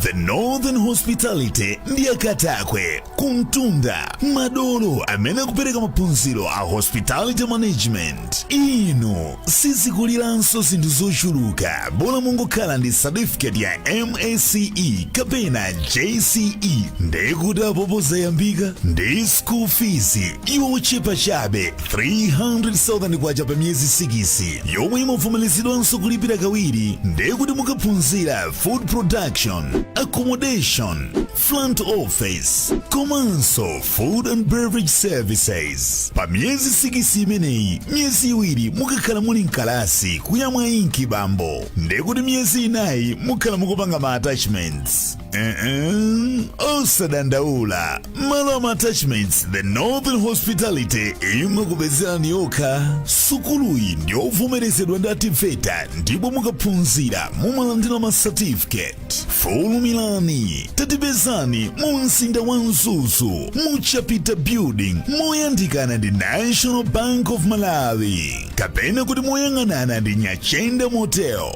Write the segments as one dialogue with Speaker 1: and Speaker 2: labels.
Speaker 1: The Northern Hospitality ndi akatakwe kumtunda madolo amene akupereka maphunziro a hospitality management inu sizikuliranso zinthu zochuluka bola mungokhala ndi certificate ya MSCE kapena JCE ndekuti apopo zayambika ndi school fees yochepa chabe 300,000 kwacha pa miyezi 6 yomwe imavomerezedwanso kulipira kawiri ndekuti mukaphunzira food production accommodation front office komanso food and beverage services pa miyezi sikisi imeneyi miyezi iwiri mukakhala muli mkalasi kuyamwa inki bambo ndekuti miyezi inayi mukakhala mukupanga ma attachments uh-uh. osadandaula Malo a ma attachments the northern hospitality imakupezerani yokha sukuluyi ndiyovomerezedwa ndi a TEVETA ndipo mukaphunzira mumalandira ma certificate fulumilani tatipezani mu mzinda wa mzuzu mu chapita building moyandikana ndi national bank of malawi kapena kuti moyang'anana ndi nyachenda motel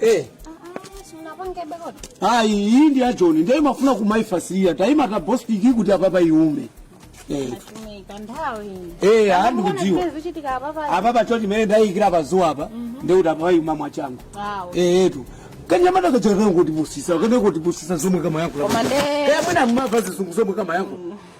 Speaker 2: Eh. Ah, iyi ndi ya John ndiye imafuna kumaifasiria taima ta bostiki kuti apapa iume eh. Eh, ah, ndikudziwa apapa cho chimene ndayikira pazuwa apa ndiye kuti apapa iuma mwachangu Eh, etu kanyamata kachakana kutipusisa kene kutipusisa zomwe kama yako Koma nde- Eh, mwina mumava zizungu zomwe kama yako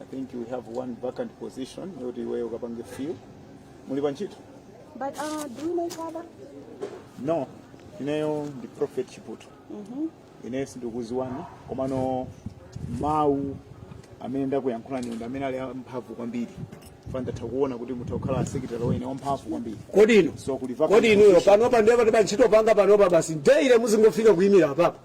Speaker 3: I think we have one vacant position yoti iweyo ukapange fill. Muli pa
Speaker 4: ntchito? But uh, do you
Speaker 3: know each other? No. Ineyo ndi Prophet Chiputu. Mm-hmm. Ineyo sindikudziwani komano mawu amene ndakuyankhulani ndi amene ali amphamvu kwambiri. Ifa ndatha kuona kuti mutha kukhala secretary wene wamphamvu kwambiri. kodi inu So kuli vacant
Speaker 2: kodi inuyo
Speaker 3: position. panopa ndiye
Speaker 2: kuti pa ntchito panga panopa basi daily muzingofika kuyimira apapa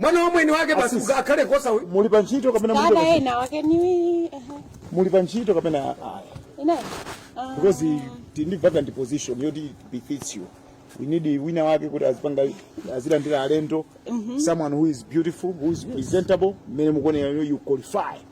Speaker 2: mwana wa mweni wake basi Asisi. akhale kosa uyu muli pa ntchito
Speaker 3: kapena mulibe Dada pa ntchito? ena wake
Speaker 4: ni ehe. muli pa
Speaker 3: ntchito kapena ayi Ina.
Speaker 4: Ah. because
Speaker 3: tili ndi vacant position yoti it befits you we need wina wake kuti azipanga azilandira alendo someone who is beautiful who is presentable mmene mukuonekera you qualify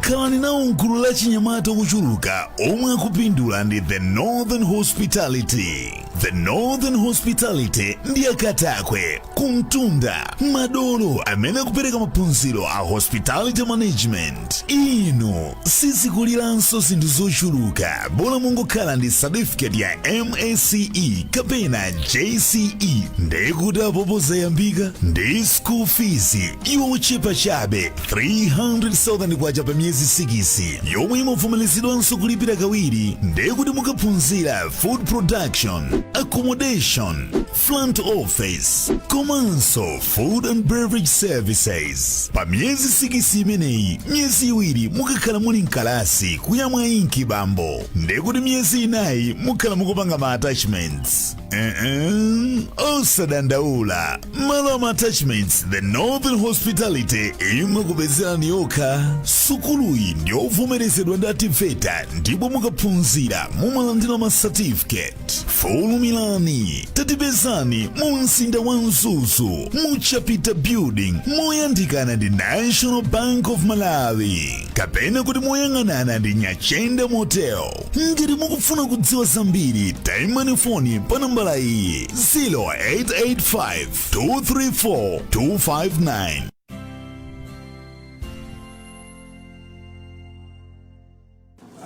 Speaker 1: khalani nawo mgulu la achinyamata ochuluka omwe akupindula ndi the northern hospitality the northern hospitality ndi akatakwe kumtunda madolo amene akupereka maphunziro a hospitality management inu sizikuliranso zinthu zochuluka bola mungokhala ndi certificate ya msce kapena jce ndiye kuti apopo zayambika ndi school fees yochepa chabe 300,000 kwacha pa miyezi 6 yomwe imavomerezedwanso kulipira kawiri ndiye kuti mukaphunzira food production accommodation front office komanso food and beverage services pa miyezi sikisi imeneyi miyezi iwiri mukakhala muli mkalasi kuyamwa inki bambo ndekuti miyezi inayi mukhala mukupanga ma attachments Uh-uh. osadandaula malo ama attachments the northern hospitality imakupezerani yokha sukuluyi ndiyovomerezedwa ndi a TEVETA ndipo mukaphunzira mumalandira ma certificate fulumirani tatipezani mu mzinda wa mzuzu mu chapita building moyandikana ndi national bank of malawi kapena kuti moyang'anana ndi nyachenda motel ngati mukufuna kudziwa zambiri tayimbani foni pa nambala iyi 0885 234 259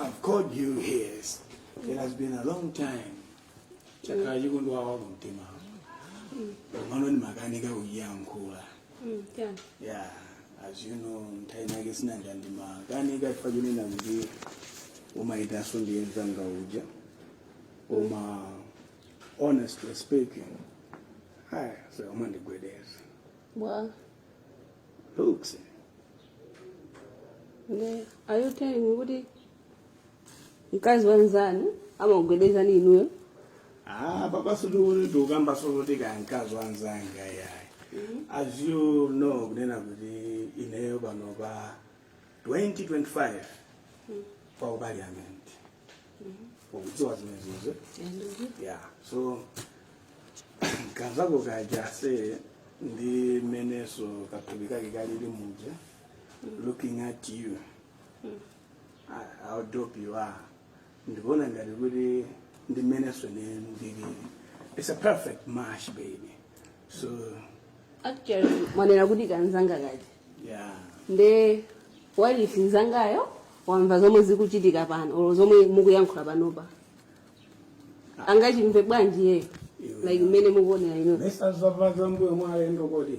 Speaker 1: I've called you here
Speaker 2: It has been a long time. Chakhala chikundwawa kumtima. Mano ni makanika uyankhula. Mm, chani. Yeah, as you know, mtaina yake sina ndandi makanika chifukwa chine nambi umaitaso ndiye mzanga uja. Uma honestly speaking. Haya, so umandigwedeza. Bwa. Looks.
Speaker 5: Nde, are you telling me kuti mkazi wa nzanu amakugwedezani inuyo Ah,
Speaker 2: papa sindikuti ndikukamba soluti kaya mkazi wa nzanga iyayi as you know kunena kuti ineyo panopa 2025 pa parliament ukudziwa zimenezo yeah so kanzako kaja ndi mmenenso kathupi kake kalili muja looking at you a- a udopi wa ndikuona ngati kuti ndi mmenenso ne ndili it's a perfect match baby so actually
Speaker 5: mwanena kuti kanzanga kaja yeah nde wailesi nzangayo wamva zomwe zikuchitika pano olo zomwe mukuyankhula panopa angachimve bwanji iyeyo like mmene mukuonera ino mesa za kumbuyo
Speaker 2: mwa alendo kodi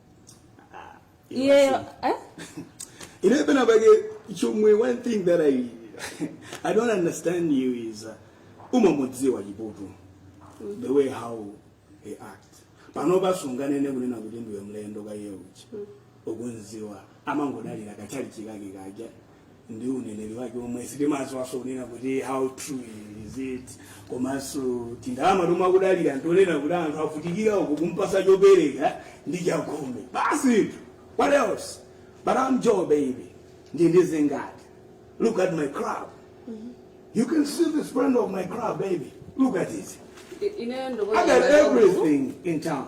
Speaker 5: iyeyo
Speaker 2: eh? ine pena pake chomwe one thing that i i don't understand you is uh, umamudziwa chiputu the way how he act panopa sunganene kunena kuti ndiwe mlendo kaye kuti ukumudziwa amangodalira kachalichi kake kaja ndi uneneri wake omwe sitimadziwanso kunena kuti how true is it komanso tindalama tomwe akudalira ntonena kuti anthu avutikira uku kumpasa chopereka ndi chakhumi basi tu. what else but I'm Joe baby ndi ndizingati look at my crib you can see the splendor of my crib baby look at it I got everything in town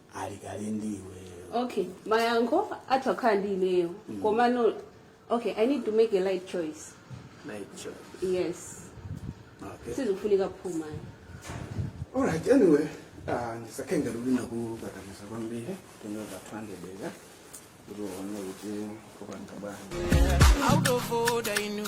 Speaker 2: ali kale
Speaker 5: ndi iweyo okay mayankho athu akhala ndi ineyo komano okay i need to make a right choice Right, choice.
Speaker 2: yes
Speaker 5: okay
Speaker 2: sizikufunika phuma alright anyway ah, ndisakhale ngati ndikukukakamiza kwambiri tinyoza 200 bega kuti uone kuti
Speaker 6: kupanga bwanji Out of order, you knew.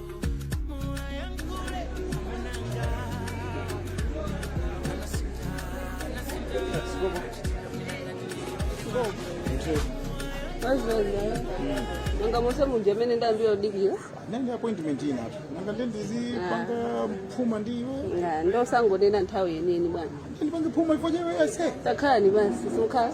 Speaker 5: nanga mose munja amene ndayambira kudikira nanga
Speaker 3: appointment ina apo nanga nde ndizipanga phuma ndi iwe Nanga, nde
Speaker 5: osangonena nthawi yeniyeni bwana ndipange phuma iwe fo
Speaker 3: chani ase takhalani pansi
Speaker 5: simukhala